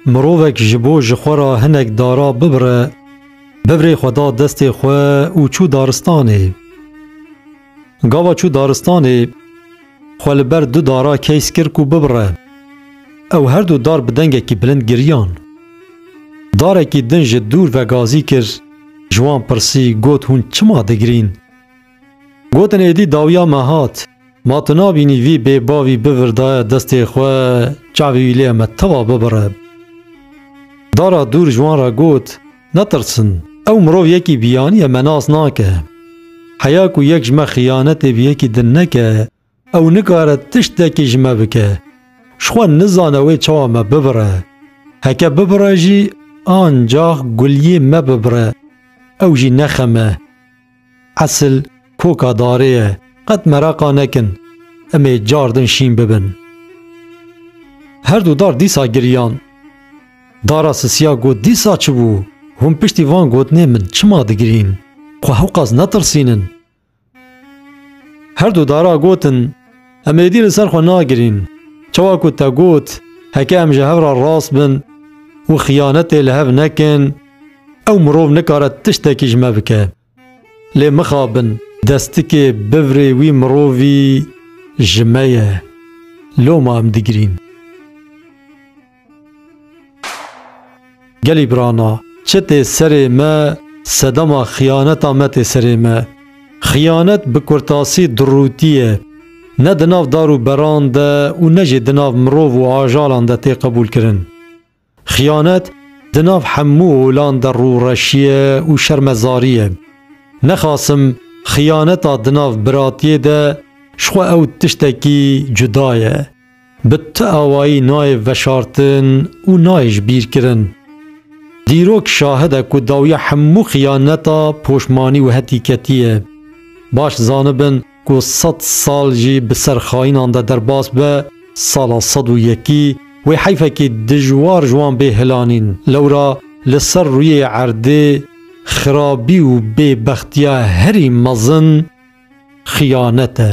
Mirovek ji bo ji xwe re hinek dara bibire, bibrê xwe da destê xwe û çû daristanê. Gava çû daristanê, xwe li ber du dara keys kir ku bibire. Ew her du dar bi dengekî bilind giriyan. Darekî din ji dûr vegazî kir, ji wan pirsî, got hûn çima digirîn? Gotin êdî dawiya me hat. Ma tu nabînî vî bê bavî bivirdaye destê xwe çavê wî lê me teva bibire. Dara dûr ji wan re got, Netirsin, ew mirov yekî biyanî ye me nas nake. Heya ku yek ji me xiyanetê bi yekî din neke, Ew nikare tiştekî ji me bike. Ji xwe nizane wê çawa me bibire. Heke bibire jî ancax Gulyê me bibire, ew jî nexeme. Esil koka darê ye, qet mereqa nekin, em ê car din şîn bibin. Herdu dar dîsa giriyan. Dara sisiya got dîsa çi bû? Hûn piştî van gotinê min çima digirîn? Xwe hewqas netirsînin. Her du dara gotin, Em êdî li ser xwe nagirîn. Çawa ku te got, heke em ji hev re rast bin û xiyanetê li hev nekin, ew mirov nikare tiştekî ji me bike. Lê mixabin, destikê bivirê wî mirovî ji me ye. Loma em digirîn. Gelî birana, çi tê serê me sedema xiyaneta me tê serê me. Xiyanet bi kurtasî dirûtî ye. Ne di nav dar û beran de û ne jî di nav mirov û ajalan de tê qebûlkirin. Xiyanet di nav hemû olan de rûreşî ye û şermezarî ye. Nexasim xiyaneta di nav biratiyê de ji xwe ew tiştekî cuda ye. bi ti awayî nayê veşartin û nayê ji bîr kirin. Dîrok şahid e ku dawiya hemû xiyaneta poşmanî û hetî ketî ye. Baş zanibin ku sed sal jî bi ser xayinan de derbas be, sala sed û yekî wê heyfekî dijwar ji wan bê hilanîn. Lewra li ser rûyê erdê xirabî û bêbextiya herî mezin xiyanet e.